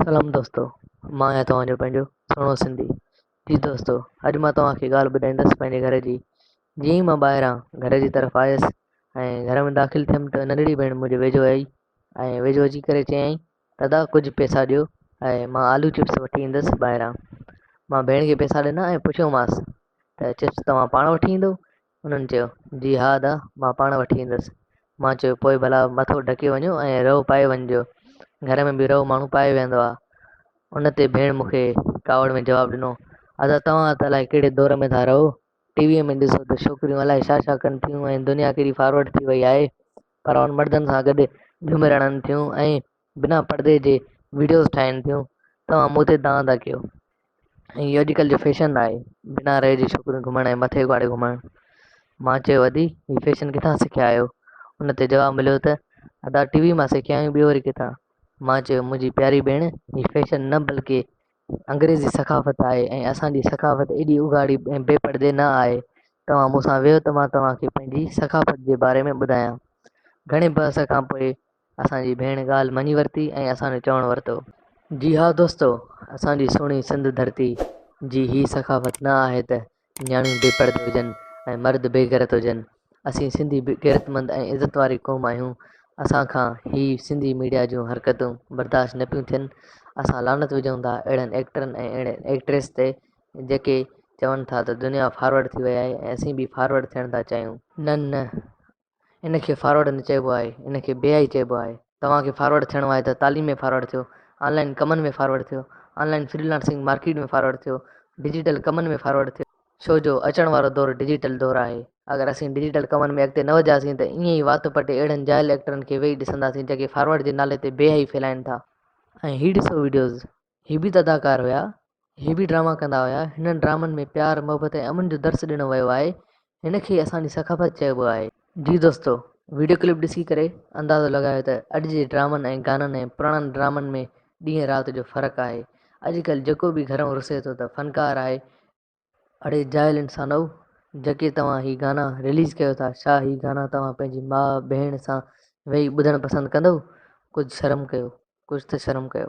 سلام دوستو مان آهيان توهان جو پنهنجو سهڻو سنڌي جي دوستو اڄ مان توهان کي ڳالهه ٻڌائيندس پنهنجي گهر جي جيئن ئي مان ٻاهران گهر جي طرف آيس ۽ گهر ۾ داخل ٿيم ته ننڍڙي ڀيڻ منهنجي ويجهو آئي ۽ ويجهو اچي ڪري چيائين دادا ڪجهه پئسا ڏيو ۽ مان آلو چپس وٺي ايندس ٻاهران. مان ڀيڻ کي پئسا ڏنا ۽ پڇيومانس ته چپس توهان پاڻ وٺي ايندو؟ انهن چيو، جي ها ادا مان پاڻ وٺي ايندس. مان چيو پوء ڀلا مٿو ڍڪي وڃو ۽ رئو پائي وڃجو. گهر ۾ به رئو ماڻهو پائي ويهندو آ. ان تي ڀيڻ مون کي ڪاوڙ ۾ جواب ڏنو، ادا توهان ته الائي ڪهڙي دور ۾ ٿا رهو. ٽي ويء ۾ ڏسو ته ڇوڪريون الائي ڇا ڇا ڪن ٿيون ۽ دنيا ڪيڏي فارورڊ ٿي وئي آهي. پر هن مردن سان گڏ جهومي رڙن ٿيون ۽ بنا پڙدي جي وڊيوز ٺاهين ٿيون توهان مون تي دانهن ٿا ڪيو ۽ اهو اڄڪلهه جو فيشن آهي بنا ريء جي ڇوڪريون گهمڻ ۽ مٿي اگهاڙي گهمڻ مان چيو ادي هي فيشن ڪٿان سکيا آهيو ان تي جواب مليو ته ادا ٽي وي مان سکيا آهيون ٻيو وري ڪٿان مان چيو منهنجي پياري ڀيڻ هي فيشن نه بلڪه انگريزي ثقافت آهي ۽ اسان جي ثقافت ايڏي اگهاڙي ۽ بي پڙدي نه آهي. توهان مون سان ويهو ته مان توهان کي پنهنجي ثقافت جي باري ۾ ٻڌايان. گهڻي بحث کان پوء اسان جي ڀيڻ ڳالهه مڃي ورتي ۽ اسان جو چوڻ ورتو. جي ها دوستو! اسان جي سهڻي سنڌ ڌرتي جي هي ثقافت نه آهي ته نياڻيون بي پرده هجن ۽ مرد بي غيرت هجن اسين سنڌي غيرتمند ۽ عزت واري قوم آهيون اسان کان هي سنڌي ميڊيا جون حرڪتون برداشت نه پيون ٿين اسان لعنت وجهون ٿا اهڙن ايڪٽرن ۽ اهڙين ايڪٽريس تي جيڪي چون ٿا ته دنيا فارورڊ ٿي وئي آهي ۽ اسين به فارورڊ ٿيڻ ٿا چاهيون نه نه ان کي فارورڊ نه چئبو آهي، ان کي بي آئي چئبو آهي. توهان کي فارورڊ ٿيڻو آهي ته تعليم ۾ فارورڊ ٿيو، آن لائن ڪمن ۾ فارورڊ ٿيو، online freelancing market ۾ forward ٿيو، ڊجيٽل ڪمن ۾ فارورڊ ٿيو. ڇو جو اچڻ وارو دور ڊجيٽل دور آهي. اگر اسين ڊجيٽل ڪمن ۾ اڳتي نه وڌياسين ته ائين ئي وات پٽي اهڙن جاهل ايڪٽرن کي ويهي ڏسنداسين جيڪي فارورڊ جي نالي تي بي حيائي ڦهلائين ٿا. ۽ هي ڏسو وڊيوز هي به ته اداڪار هيا. هي به ڊراما ڪندا هيا. هنن ڊرامن ۾ پيار، محبت ۽ امن جو درس ڏنو ويو آهي. هن کي ئي اسان جي ثقافت چئبو آهي. جي دوستو! وڊيو ڪلپ ڏسي ڪري اندازو لڳايو ته اڄ جي ڊرامن ۽ گانن ۽ پراڻن ڊرامن ۾ ڏينهن رات جو فرق آهي. اڄ ڪلهه جيڪو به گهرئون رسي ٿو ته فنڪار آهي اڙي جاهل انسانؤ جيڪي توهان هي گانا رليز ڪيو ٿا ڇا هي گانا توهان پنهنجي ماء ڀيڻ سان ويهي ٻڌڻ پسند ڪندؤ ڪجهه شرم ڪيو ڪجهه ته شرم ڪيو.